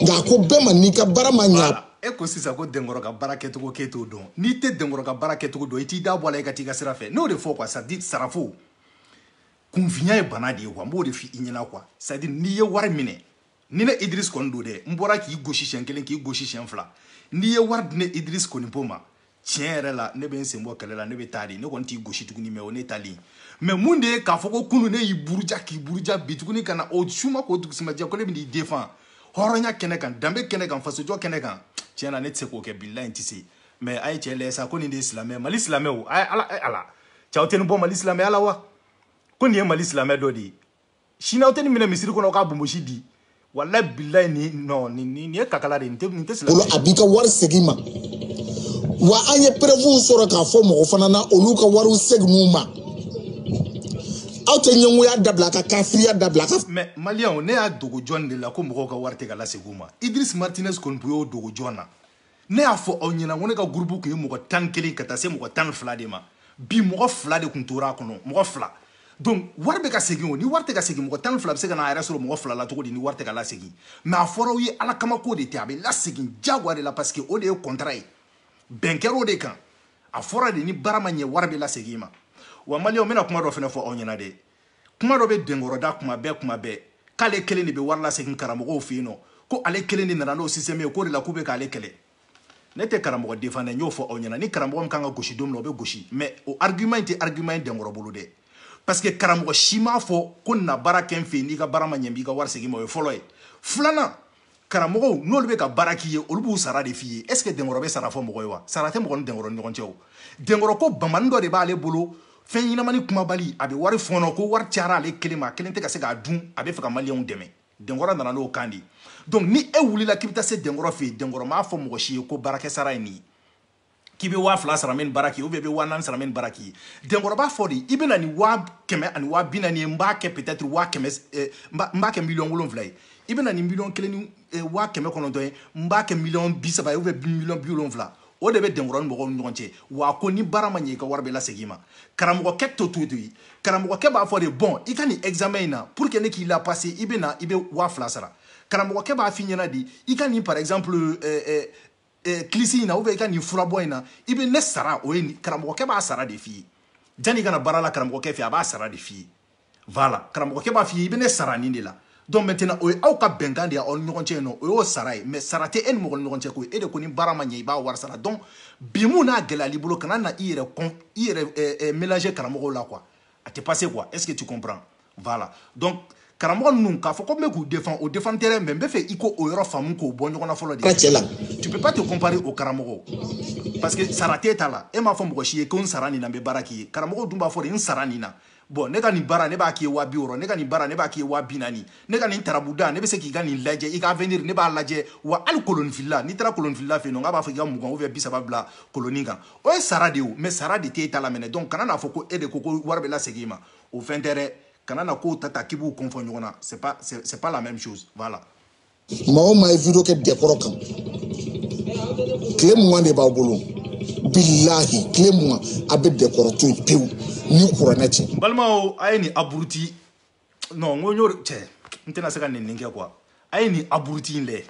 nka a ko bɛɛ ma n'i ka baara ma ɲa e ko sisan ko denkɔrɔ ka baara kɛcogo k'e t'o dɔn n'i tɛ denkɔrɔ ka baara kɛcogo dɔn i t'i da bɔ a la i ka t'i ka sira fɛ n'o de fɔ quoi c'est à dire sarafo kunfinya ye bana de ye quoi n b'o de f'i ɲɛna quoi c'est à dire n'i ye wari minɛ ni ne Idriss kɔni don dɛ n bɔra k'i gosi siɲɛ kelen k'i gosi siɲɛ fila n'i ye wari di ne Idriss Konipo ma tiɲɛ yɛrɛ la ne bɛ n sen bɔ kɛlɛ la ne bɛ taa de ne kɔni t'i gosi tuguni mais o ne taalen mais mun de ye k'a fɔ ko kunu ne y'i buruja k'i buruja bi tuguni ka na o suma k'o dugusimajɛ ko ne bɛn'i défend hɔrɔnya kɛnɛ kan danbe kɛnɛ kan fasojɔ kɛnɛ kan tiɲɛ na ne tɛ se k'o kɛ bilayi n tɛ se mais a ye cɛ lajɛ sa ko nin de ye silamɛ mali silamɛw a ye a lajɛ aw tɛ nin bɔ mali silamɛya la wa ko nin ye mali silamɛ dɔ de ye sini aw tɛ nin minɛ misiri kɔnɔ k'a bonbonsi di walayi bilayi nin nin ye kakala de ye nin tɛ nin tɛ sila. o la a b'i ka wari segin ma wa an ye preuves sɔrɔ k'a fɔ mɔgɔ fana na olu ka wariw segin'u ma aw tɛ ɲɛngoya dabila ka kafiriya dabila ka. mais maliyɛnw ne y'a dogo jɔn de la ko mɔgɔw ka wari tɛ ka lasegin u ma Idriss Martinez Konipo y'o dogo jɔn na. ne y'a fɔ aw ɲɛna ko ne ka gurupu kun ye mɔgɔ tan ni kelen ka taa se mɔgɔ tan ni fila de ma bi mɔgɔ fila de kun tora a kɔnɔ mɔgɔ fila donc wari bɛ ka segin o ni wari tɛ ka segin mɔgɔ tan ni fila bɛ se ka na a yɛrɛ sɔrɔ mɔgɔ fila la cogo di ni wari tɛ ka lasegin mais a fɔra aw ye ala kama ko de tɛ a bɛ lasegin jagoya de la parce que o de ye contrat ye bɛn kɛra o de kan a fɔra de ni baara ma ɲɛ wari bɛ lasegin i ma wa maliyɛnw n bɛna kuma dɔ fana fɔ aw ɲɛna dɛ kuma dɔ bɛ denkɔrɔ da kuma bɛɛ kuma bɛɛ k'ale kelen de bɛ wari lasegin karamɔgɔw fɛ yen nɔ ko ale kelen de nana n'o système ye k'o de la k'u bɛ k'ale kɛlɛ ne tɛ karamɔgɔ défend dɛ n y'o fɔ aw ɲɛna ni karamɔgɔ min kan ka gosi don min na o bɛ gosi mais o argument in tɛ argument ye denkɔrɔ bolo dɛ parce que karamɔgɔ si m'a fɔ ko na baara kɛ n fɛ n'i ka baara ma ɲɛ n b'i ka wari segin ma o ye fɔlɔ ye filanan karamɔgɔw n'olu bɛ ka baara k'i ye olu b'u sara de f'i ye est ce que denkɔrɔ bɛ sara fɔ mɔgɔ ye wa sara tɛ mɔgɔ ni denkɔrɔ ni ɲɔgɔn cɛ o denkɔrɔ ko bamani dɔ de b'ale bolo fɛn ɲɛnamani kumabali a bɛ wari fɔɔnɔ ko wari cayara ale kelen ma a kelen tɛ ka se k'a dun a bɛ fɛ ka maliyɛnw dɛmɛ denkɔrɔ nana n'o kan de ye donc ni e wulila k'i bɛ taa se denkɔrɔ fɛ yen denkɔrɔ m'a fɔ mɔgɔ si ye ko baarakɛsara ye nin ye k'i bɛ waa fila sara min baara k'i ye ou bien i bɛ waa naani sara min baara k'i ye denkɔrɔ b'a fɔ de i bɛ na ni waa kɛmɛ ani waa bi naani ye n b'a kɛ peut-être waa kɛmɛ eh, n b'a kɛ miliyɔn wolonwula ye i bɛ na ni miliyɔn kelen ni eh, waa kɛmɛ kɔnɔntɔn ye n b'a kɛ miliyɔn bi saba ye ou bien miliyɔn bi wolonwula o de bɛ denkɔrɔ ni mɔgɔw ni ɲɔgɔn cɛ wa ko ni baara ma ɲɛ i ka wari bɛ lasegin i ma karamɔgɔkɛ t'o t'o t'o ye karamɔgɔkɛ b'a fɔ de bon i ka nin examen in na pour que ne k'i la passer i bɛ na i bɛ waa fila sara karamɔgɔkɛ b'a f'i ɲɛna de i ka nin par exemple euh, euh, eh, kilisi in na ou bien i ka nin furabɔ in na i bɛ ne sara o ye karamɔgɔkɛ b'a sara de f'i ye janni i ka na baara la karamɔgɔkɛ fɛ a b'a sara de f'i ye voilà karamɔgɔkɛ b'a f'i ye i bɛ ne sara nin de la donc maintenant o ye aw ka bɛnkan de ye aw ni ɲɔgɔn cɛ yen nɔ o y'o sara ye mais sara tɛ e ni mɔgɔ ni ɲɔgɔn cɛ koyi e de ko ni baara ma ɲɛ i b'a wari sara donc bi mun n'a gɛlɛyal'i bolo kana na i yɛrɛ kɔn i yɛrɛ eh, eh, mélanger karamɔgɔw la quoi a tɛ passer quoi est ce que tu comprends voilà donc karamɔgɔ ninnu k'a fɔ ko n bɛ k'u défend o défend tɛ dɛ mais n bɛ fɛ i k'o yɔrɔ faamu k'o bɔ ɲɔgɔn na fɔlɔ de ka cɛ la tu peux pas te comparer au karamɔgɔ parce que sara t'e ta la e m'a fɔ mɔgɔ si ye ko n sara nin na n bɛ baara k'i ye karamɔgɔ dun b'a fɔ de n sara nin na bon ne ka nin baara ne b'a k'i ye waa bi wɔɔrɔ ne ka nin baara ne b'a k'i ye waa bi naani ne ka nin turabuda ne bɛ se k'i ka nin lajɛ i ka avenir ne b'a lajɛ wa hali koloninfilila n'i taara koloninfilila fɛ yen nɔ k'a b'a fɔ i ka mugan ou bien bi saba bila kolonin kan o ye sara de ye o mais sara de t'e ta la mɛnɛ donc kana n'a fɔ ko e de ko ko wari bɛ lasegin i ma o fɛn tɛ dɛ kana na kow ta ta k'i b'u confond ɲɔgɔn na c'est pas c'est pas la même chose voilà maa o maa ye vidéo kɛ dɛnkɔrɔ kan tile mugan de b'aw bolo bilahi tile mugan a bɛ dɛnkɔrɔ to yen pewu ni kuranɛ cɛ n balimaw a ye nin abruti non n ko n y'o cɛ n tɛna se ka nin nin kɛ quoi a ye nin abruti in lajɛ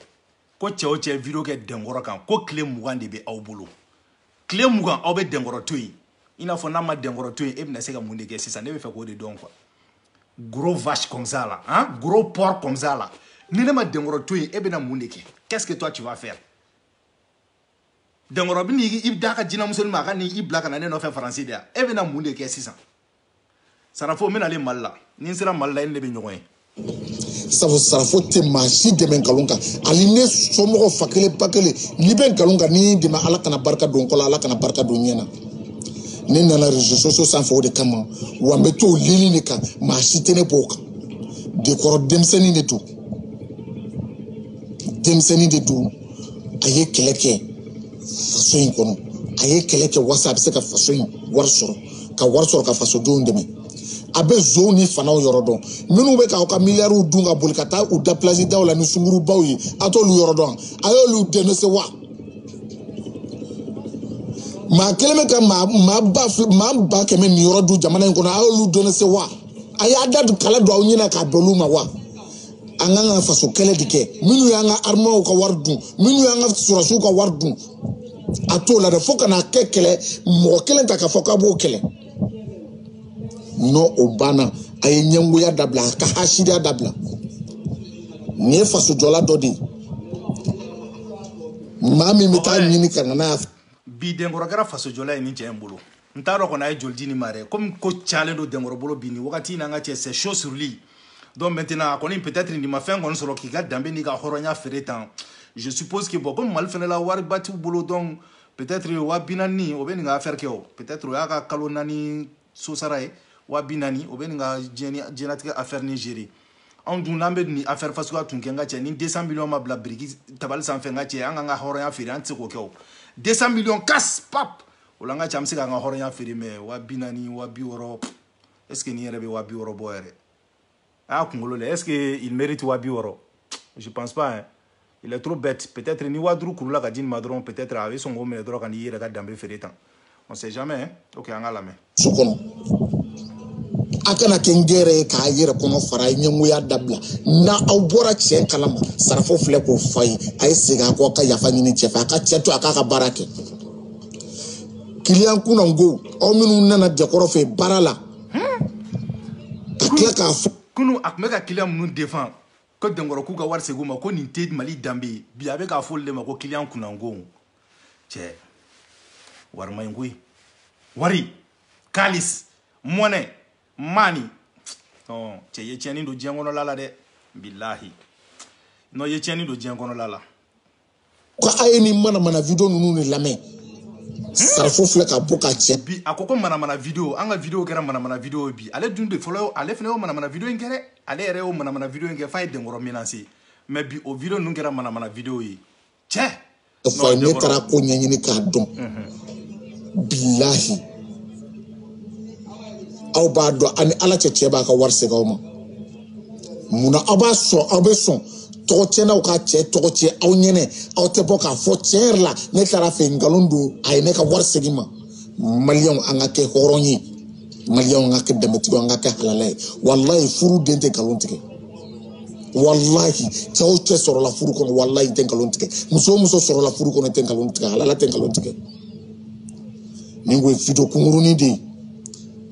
ko cɛ o cɛ vidéo kɛ dɛnkɔrɔ kan ko tile mugan de bɛ aw bolo tile mugan aw bɛ dɛnkɔrɔ to yen i n'a fɔ n'a ma dɛnkɔrɔ to yen e bɛna se ka mun de kɛ sisan ne bɛ fɛ k'o de dɔn quoi gros vache comme ça là hein gros porc comme ça là ni ne ma dɛnkɔrɔ to yen e bɛna mun de kɛ qu'est-ce que toi tu vas faire dɛnkɔrɔ bɛ n'i d'a ka jinamuso nin ma a ka n'i bila ka na ne nɔfɛ faransi de yan e bɛna mun de kɛ sisan sarafo n bɛ na le mali la ni n sera mali la i ni ne bɛ ɲɔgɔn ye sabu sarafo tɛ maa si dɛmɛ nkalon kan hali ne somɔgɔ fa kelen ba kelen n'i bɛ nkalon kan n'i dɛmɛ ala kana barika don kɔ la ala kana barika don ɲɛ na ne nana réseaux sociaux sanfɛ o de kama wa n bɛ to o ligne de kan maa si tɛ ne b'o kan dɛnkɔrɔ denmisɛnnin de don denmisɛnnin de don a ye kɛlɛ kɛ faso in kɔnɔ a ye kɛlɛ kɛ walasa a bɛ se ka faso in wari sɔrɔ ka wari sɔrɔ ka fasodenw dɛmɛ a bɛ zonw ni fanaw yɔrɔ dɔn minnu bɛ k'aw ka miliyariw dun ka boli ka taa u da plage daw la ni sungurubaw ye a t'olu yɔrɔ dɔn a y'olu dénoncer wa maa kelen bɛ ka maa maa ba maa ba kɛmɛ niyɔrɔ dun jamana in kɔnɔ a y'olu dénoncer wa a y'a da kala don aw ɲɛ na k'a bɛn olu ma wa. an kan ka faso kɛlɛ de kɛ minnu y'an ka arméew ka wari dun minnu y'an ka sɔrɔsiw ka wari dun a t'o la dɛ fo ka n'a kɛ kɛlɛ mɔgɔ kelen ta k'a fɔ k'a b'o kɛlɛ non o banna a ye ɲɛngoya dabila a ka hasidiya dabila nin ye fasojɔla dɔ de ye maa min bɛ taa ɲini ka na n'a ye bi dɛnkɔrɔ kɛra fasojɔla ye nin cɛ in bolo n t'a dɔn kɔni a ye joli di nin ma dɛ komi ko cayalen don dɛnkɔrɔ bolo bi nin wagati in na an ka cɛ c'est chaud sur lui donc maintenant a kɔni peut-être nin ma fɛn kɔni sɔrɔ k'i ka danbe n'i ka hɔrɔnya feere tan je suppose que bon komi mali fɛnɛ la wariba t'u bolo donc peut-être waa bi naani o bɛ nin ka affaire kɛ o peut-être o y'a ka kalo naani sosara ye waa bi naani o bɛ nin ka diɲɛnatigɛ affaire nin gérer anw dun n'an bɛ nin affaire fasuguya tun kɛ n ka cɛ ni 200 millions ma bila biriki tabali sanfɛ n ka cɛ an k'an ka hɔrɔnya feere an tɛ se k'o kɛ o 200 millions cash pap o la n ka cɛ an bɛ se k'an ka hɔrɔnya feere mais wa bi naani wa bi wɔɔrɔ est ce que nin yɛrɛ bɛ wa bi wɔɔrɔ bɔ yɛrɛ a y'a kunkolo lɛ est ce que il mérite wa bi wɔɔrɔ je pense pas hein il est trop bête peut être ni wa duuru kurula ka di nin ma dɔrɔn peut être a bɛ sɔn k'o minɛ dɔrɔn ka n'i yɛrɛ ka danbe feere tan on sait jamais hein ok an ka lamɛn su kɔnɔ a kana kɛ nkɛrɛn ye k'a yɛrɛ kɔnɔ fara ye ɲɛngoya dabila n'aw bɔra cɛn kalama sarafo filɛ k'o f'a ye a ye segin a kɔ ka yafa ɲini cɛ fɛ a ka cɛ to a k'a ka baara kɛ kiliyan kunnanko aw minnu nana dɛnkɔrɔ fɛ baara la ka tila k'a fɔ kunu a tun bɛ ka kiliyan minnu défend ko dɛnkɔrɔ k'u ka wari segin u ma ko nin tɛ mali danbe ye bi a bɛ k'a fɔ olu de ma ko kiliyan kunnanko cɛ wari man ɲi koyi wari kalis monnaie money non cɛ ye tiɲɛni don diɲɛ kɔnɔla la dɛ bilahi non ye tiɲɛni don diɲɛ kɔnɔla la ko a ye nin manamana video ninnu de lamɛn sarafo filɛ ka bɔ ka cɛ bi a ko ko manamana video an ka video kɛra manamana video ye bi ale dun de fɔlɔ ale fana y'o manamana video in kɛ dɛ ale yɛrɛ y'o manamana video in kɛ f'a ye denkɔrɔ menacer mais bi o video ninnu kɛra manamana video ye cɛ fa ne taara ko ɲɛɲini k'a dɔn bilahi aw b'a dɔn aw ni ala cɛ cɛ b'a ka wari segin aw ma munna aw b'a sɔn aw bɛ sɔn tɔgɔ tiɲɛnaw ka cɛ tɔgɔ tiɲɛ aw ɲɛnɛ aw tɛ bɔ k'a fɔ tiɲɛ yɛrɛ la ne taara a fɛ nkalon don a ye ne ka wari segin n ma maliyɛnw an ka kɛ hɔrɔn ye maliyɛnw an ka kɛ danbetigiw an ka kɛ halala ye walayi furu den tɛ nkalon tigɛ walahi cɛ o cɛ sɔrɔla furu kɔnɔ walayi tɛ nkalon tigɛ muso o muso sɔrɔla furu kɔnɔ tɛ nkalon tigɛ halala tɛ nkalon tigɛ nin ko ye video kunkurunin de ye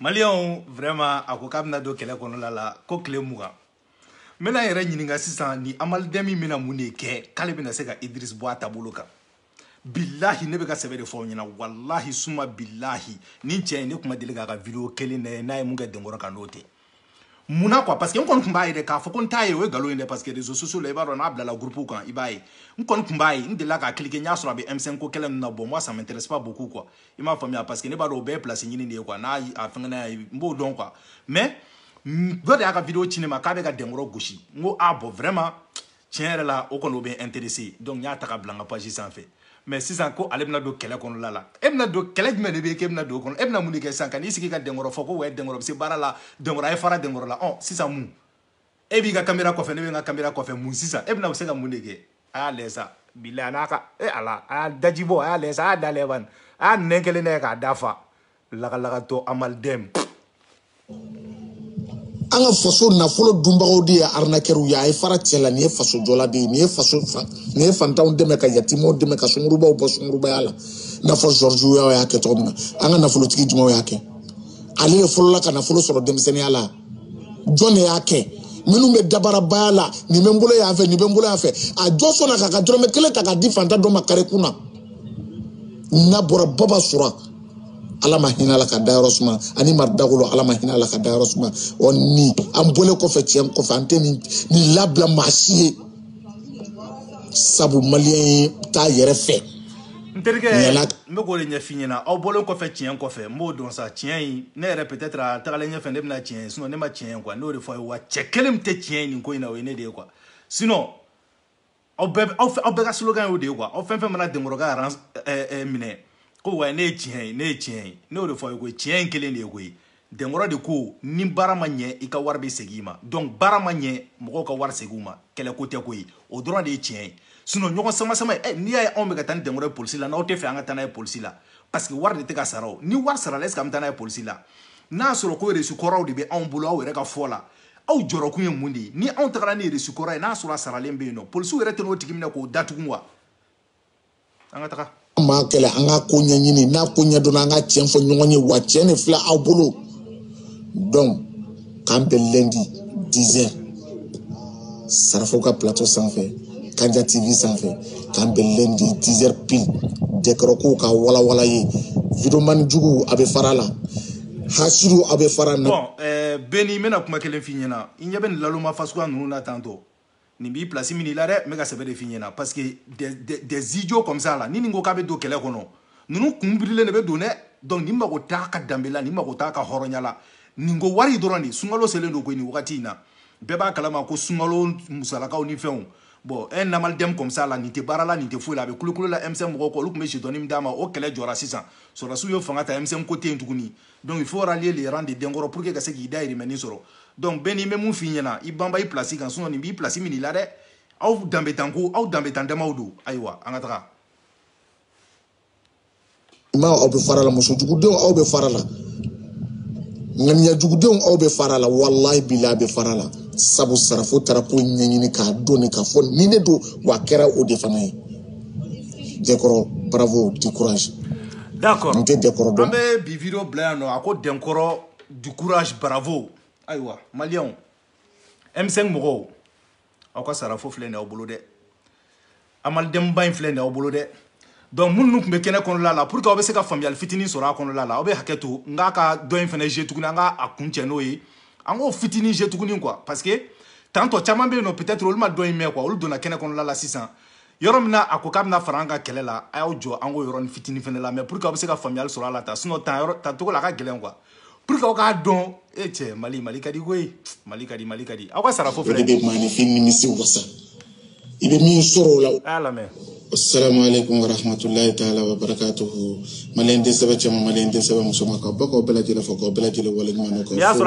maliyɛnw vraiment a ko k'a bɛna don kɛlɛ kɔnɔla la ko tile mugan n bɛna yɛrɛ ɲininka sisan ni amalidɛn min bɛna mun de kɛ k'ale bɛna se ka idris bɔ a taabolo kan bilahi ne bɛ ka sɛbɛ de fɔ aw ɲɛna walahi suma bilahi nin cɛ in ne tun ma deli k'a ka video kelen lajɛ n'a ye mun kɛ denkɔrɔ kan n'o tɛ mun na quoi parce que n kɔni tun b'a ye dɛ k'a fɔ ko n t'a ye o ye nkalon ye dɛ parce que réseaux sociaux la i b'a dɔn n'a bilala groupe kan i b'a ye n kɔni tun b'a ye n delila k'a cliquer n y'a sɔrɔ a bɛ M5 ko kɛlɛ ninnu na bon moi ça m'intéresse pas beaucoup quoi i m'a faamuya parce que ne b'a dɔn o bɛɛ ye place ɲini de ye quoi n'a a fɛngɛna ye n b'o dɔn quoi mais dɔ de y'a ka vidéo ci ne ma k'a bɛ ka dɛnkɔrɔ gosi n ko ah bon vraiment tiɲɛ yɛrɛ la o kɔni o bɛ intéressé donc n y'a ta ka bila n ka page sanfɛ mais sisan ko ale bɛna don kɛlɛ kɔnɔla la e bɛna don kɛlɛ jumɛn de bɛ yen k'e bɛna don o kɔnɔ e bɛna mun de kɛ sisan ka n'i sigi ka dɛnkɔrɔ fɔ ko ouais dɛnkɔrɔ bɛ se baara la dɛnkɔrɔ a ye fara dɛnkɔrɔ la ɔ sisan mun e b'i ka kamera kɔfɛ ne bɛ n ka kamera kɔfɛ mun sisan e bɛna se ka mun de kɛ a y'a lajɛ sa bilayi a n'a ka e ala a y'a daji bɔ a y'a lajɛ sa a y'a da lajɛ bani a y'a nɛn kelen lajɛ k'a da fa lagalagatɔ amalidɛm an ka faso nafolo dunbagaw de ye arinakɛriw ye a ye fara cɛ la nin ye faso jɔla de ye nin ye fantanw dɛmɛ ka yatimaw dɛmɛ ka sungurubaw bɔ sungurubaya la i n'a fɔ Georges y'a kɛ cogo min na an ka nafolotigi jumɛnw y'a kɛ ale de fɔlɔla ka nafolo sɔrɔ denmisɛnninya la jɔn de y'a kɛ minnu bɛ dabarabaya la nin bɛ n bolo yan fɛ nin bɛ n bolo yan fɛ a jɔn sɔnna k'a ka dɔrɔmɛ kelen ta k'a di fantan dɔ ma kare kun na n'a bɔra baba sora ala ma hinɛ la k'a dayɔrɔ suma ani madu dagolo ala ma hinɛ la k'a dayɔrɔ suma ɔ ni an bɔlen kɔfɛ tiɲɛ kɔfɛ an tɛna nin labila maa si ye sabu maliyɛn t'a yɛrɛ fɛ n terikɛ n bɛ k'o de ɲɛf'i ɲɛna aw bɔlen kɔfɛ tiɲɛ kɔfɛ n b'o dɔn sa tiɲɛ in ne yɛrɛ peut-être a tagalen ɲɛfɛ ne bɛna tiɲɛ ye sinon ne ma tiɲɛ ye quoi n'o de fɔ a ye wa cɛ kelen min tɛ tiɲɛ ye nin ko in na o ye ne de ye quoi sinon aw bɛɛ aw aw bɛɛ ka slogan y'o de ye quoi aw fɛn fɛn mana denkɔrɔ ka aran ɛɛ minɛ ko wa ne ye tiɲɛ ye ne ye tiɲɛ ye ne y'o de fɔ a ye koyi tiɲɛ in kelen de ye koyi denkɔrɔ de ko ni baara ma ɲɛ i ka wari bɛ segin i ma donc baara ma ɲɛ mɔgɔw ka wari segin u ma kɛlɛko tɛ koyi o dɔrɔn de ye tiɲɛ ye sinon ɲɔgɔn samasama eh, n'i y'a ye anw bɛ ka taa ni denkɔrɔ ye polisi la n'aw tɛ fɛ an ka taa n'a ye polisi la parce que wari de tɛ ka sara o ni wari sarala est ce que an bɛ taa n'a ye polisi la n'a y'a sɔrɔ ko resu kɔrɔw de bɛ anw bolo aw yɛrɛ ka fɔ la aw jɔrɔkun ye mun de ye ni anw tagara ni resu kɔrɔ ye n'a sɔrɔ a saralen bɛ yen nɔ polisiw yɛrɛ tɛn'o tigi minɛ k'o datugu wa an ka taga an b'a kɛlɛ an ka ko ɲɛɲini n'a ko ɲɛdɔnna an ka tiɲɛ fɔ ɲɔgɔn ye wa tiɲɛ de filɛ aw bolo donc k'an bɛn lundi dix heures sarafo ka plateau sanfɛ kanja tv sanfɛ k'an bɛn lundi dix heures pile denkɔrɔ kow ka walawala yen videomani jugu a bɛ fara la hasidi a bɛ fara na. bɔn eh, beni n bɛna kuma kelen f'i ɲɛna i ɲɛ bɛ nin naloma fasuguya ninnu na tantôt nin b'i place minɛ i la dɛ n bɛ ka sɛbɛ de f'i ɲɛna parce que des, des, des idiots comme ça la ni nin ko k'a bɛ don kɛlɛ kɔnɔ ninnu kun birilen de bɛ don dɛ donc nin mago t'a ka danbe la nin mago t'a ka hɔrɔnya la nin ko wari dɔrɔn de sunkalo selen don koyi nin wagati in na bɛɛ b'a kalama ko sunkalo musalakaw ni fɛnw bon un amalidɛmu comme ça la nin tɛ baara la nin tɛ foyi la a bɛ kulukulu la M5 mɔgɔw kɔ olu tun bɛ jetɔni min d'a ma o kɛlɛ jɔra sisan sɔrɔdasiw ye fanga ta M5 ko tɛ yen tuguni donc il faut rallier les rangs de denkɔrɔ pour que ka se k'i dayirimɛnin sɔrɔ donc beni n bɛ mun f'i ɲɛna i banba i place kan sinon nin b'i place minɛ i la dɛ aw danbetanko aw danbetan damaw don ayiwa an ka tagama aw bɛ fara la musojugudenw aw bɛ fara la ŋaniyajugudenw aw bɛ fara la walayi bilahi a bɛ fara la sabu sarafo taara ko ɲɛɲini k'a dɔn k'a fɔ ni ne don wa a kɛra o de fana ye denkɔrɔ bravo du courage d'accord n tɛ dɛnkɔrɔ dɔn an bɛ bi video bila yan nɔ a ko dɛnkɔrɔ du courage bravo ayiwa maliyɛnw m5 mɔgɔw aw ka sarafo filɛ nin aw bolo dɛ amalidɛnba in filɛ nin aw bolo dɛ donc minnu tun bɛ kɛnɛ kɔnɔla la pour que aw bɛ se ka faamuyali fitinin sɔrɔ a kɔnɔla la aw bɛ hakɛ to n k'a ka dɔ in fɛnɛ je tuguni an ka a kuncɛ n'o ye an k'o fitinin je tuguni quoi parce que tantɔ caman bɛ yen nɔ peut-être olu ma dɔ in mɛn quoi olu donna kɛnɛ kɔnɔla la sisan yɔrɔ min na a ko k'a bɛna fara an ka kɛlɛ la a y'aw jɔ an k'o yɔrɔnin fitinin fɛnɛ lamɛn pour que aw bɛ se ka faamuyali sɔrɔ a la tan sinon ta yɔrɔ ta cogo la a ka gɛlɛn quoi pour que aw k'a dɔn e cɛ mali mali ka di koyi mali ka di mali ka di aw ka sarafo filɛ dɛ maaninfin nimisi wasa i bɛ min sɔrɔ o la a y'a lamɛn assalamu alaikum warahmatullahi taala wabarakatuhu maliyɛn den sɛbɛn cɛman maliyɛn den sɛbɛn musoman ka bɛɛ k'aw bɛɛ lajɛlen fo k'aw bɛɛ lajɛlen waleɲuman dɔn k'aw fo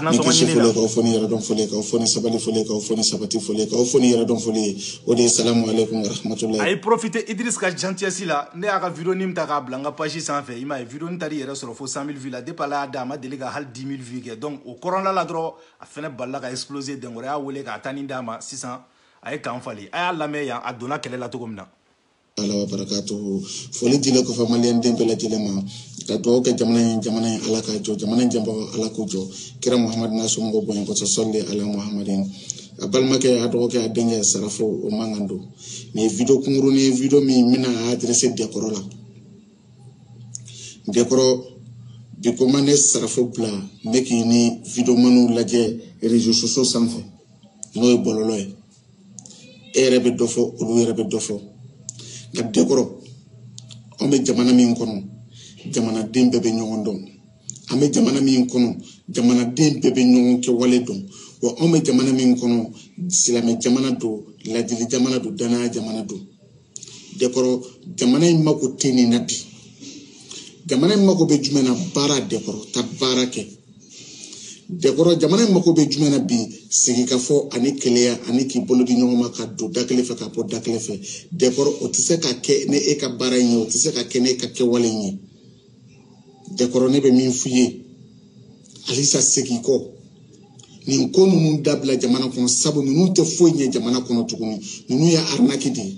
ni kisi foli k'aw fo ni yɛrɛdɔn foli k'aw fo ni sabali foli k'aw fo ni sabati foli k'aw fo ni yɛrɛdɔn foli ye o de ye salamu aleykum warahmatulahi a ye profiter Idriss ka gentillesse la ne y'a ka vidéo nin ta k'a bila n ka page sanfɛ i m'a ye vidéo nin taar'i yɛrɛ sɔrɔ fo 100 000 vues la depuis Ala y'a dan a ma deli ka hali 10 000 vues kɛ donc o kɔrɔla la dɔrɔn a fɛnɛ balala ka exploser Dɛnkɔrɔ y'a wele ka tani d'a ma sisan a ye kan falen a y'a lamɛn yan a donna kɛlɛ la cogo min na ala wa barakatuhu foli dilen kɔfɛ maliyɛn den bɛɛ lajɛlen ma ka dugawu kɛ jamana in jamana in ala k'a jɔ jamana in janbagaw ala k'u jɔ kira muhamadu n'a somɔgɔw bonya kɔsɔn sɔli ala muhamadin a balimakɛ a dɔgɔkɛ a denkɛ sarafo o mankan don nin ye video kunkurunin ye video min bɛna a adresser dɛnkɔrɔ la dɛnkɔrɔ bi ko ma ne sarafo bila ne k'i ni videomaniw lajɛ réseaux sociaux sanfɛ n'o ye bɔlɔlɔ ye e yɛrɛ bɛ dɔ fɔ olu yɛrɛ bɛ dɔ fɔ nka dɛnkɔrɔ an bɛ jamana min kɔnɔ jamanaden bɛɛ bɛ ɲɔgɔn dɔn an bɛ jamana min kɔnɔ jamanaden bɛɛ bɛ ɲɔgɔn kɛwale dɔn wa anw bɛ jamana min kɔnɔ silamɛ jamana don ladili jamana don danaya jamana don dɛnkɔrɔ jamana in mako tɛ nin na bi jamana in mako bɛ jumɛn na baara dɛnkɔrɔ taa baara kɛ dɛnkɔrɔ jamana in mako bɛ jumɛn na bi sigikafɔ ani kelenya ani k'i bolo di ɲɔgɔn ma ka don da kelen fɛ ka bɔ da kelen fɛ dɛnkɔrɔ o tɛ se ka kɛ ni e ka baara in ye o tɛ se ka kɛ ni e ka kɛwale in ye dɛnkɔrɔ ne bɛ min f'i ye halisa segin kɔ nin ko ninnu dabila jamana kɔnɔ sabu ninnu tɛ foyi ɲɛ jamana kɔnɔ tuguni ninnu ye arnaque de ye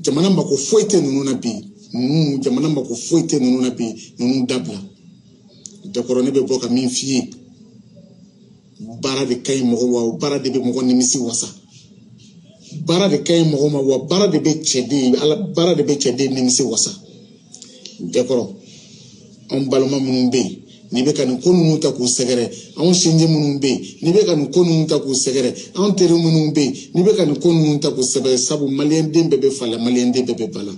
jamana mako foyi tɛ ninnu na bi ninnu jamana mako foyi tɛ ninnu na bi ninnu dabila dɛnkɔrɔ ne bɛ bɔ ka min f'i ye baara de ka ɲi mɔgɔ wa o baara de bɛ mɔgɔ nimisi wasa baara de ka ɲi mɔgɔ ma wa baara de bɛ cɛden ala baara de bɛ cɛden nimisi wasa dɛnkɔrɔ anw balima minnu bɛ yen n'i bɛ ka nin ko ninnu ta k'u sɛgɛrɛ anw sinji minnu bɛ yen n'i bɛ ka nin ko ninnu ta k'u sɛgɛrɛ anw teri minnu bɛ yen n'i bɛ ka nin ko ninnu ta k'u sɛgɛrɛ sabu maliyɛnden bɛɛ bɛ fa la maliyɛnden bɛɛ bɛ ba la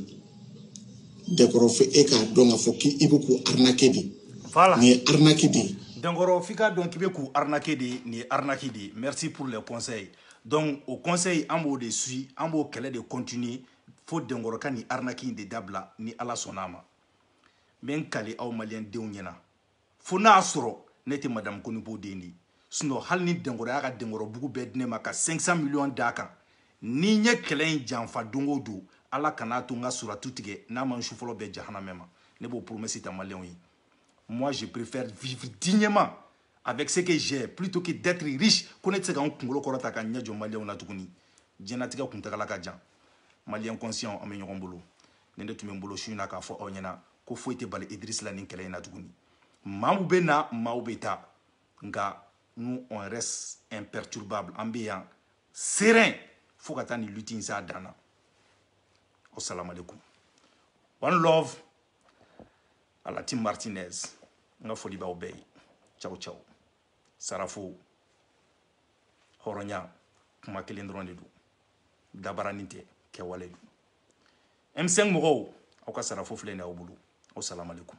dɛnkɔrɔ fo e k'a dɔn k'a fɔ k'i bɛ k'u arnaquer de nin ye arnaque de ye dɛnkɔrɔ f'i k'a dɔn k'i bɛ k'u arnaquer de nin ye arnaque de ye merci pour les conseils donc o conseil an b'o de suit an b'o kɛlɛ de continuer fo dɛnkɔrɔ ka nin arnaque in de dabila ni ala sɔnn'a ma n bɛ n kali aw maliyɛn denw ɲɛna fo n'a y'a sɔrɔ ne tɛ madamu konibo den de ye sinon hali ni dɛnkɔrɔ y'a ka dɛnkɔrɔbugu bɛɛ di ne ma ka 500 miliyɔn d'a kan ni n ye kɛlɛ in janfa don o don ala kan'a to n ka suratu tigɛ n'a ma n su fɔlɔ bɛɛ jahanamɛ ma ne b'o promesse ta maliyɛnw ye moi je préfère vivre dignement avec ce que j'ai plutôt que d'être riche ko ne tɛ se ka n kunkolo kɔrɔta ka n ɲɛ jɔ maliyɛnw na tuguni diɲɛnatigɛ kuntagala ka jan maliyɛn conscient an bɛ ɲɔgɔn bolo nin de tun bɛ n bolo su in na k'a fɔ aw ɲɛna ko foyi tɛ bali idirisi la nin kɛlɛ in na tuguni maaw bɛ na maaw bɛ taa nka nous on reste imperturbable an bɛ yan serein fo ka taa nin lutte in s'a dan na wasalamalekum one love à la team martinez n ka foli b'aw bɛɛ ye ciao ciao sarafo hɔrɔnya kuma kelen dɔrɔn de don dabaranin tɛ kɛwale don M5 mɔgɔw aw ka sarafo filɛ nin aw bolo aw salamalekum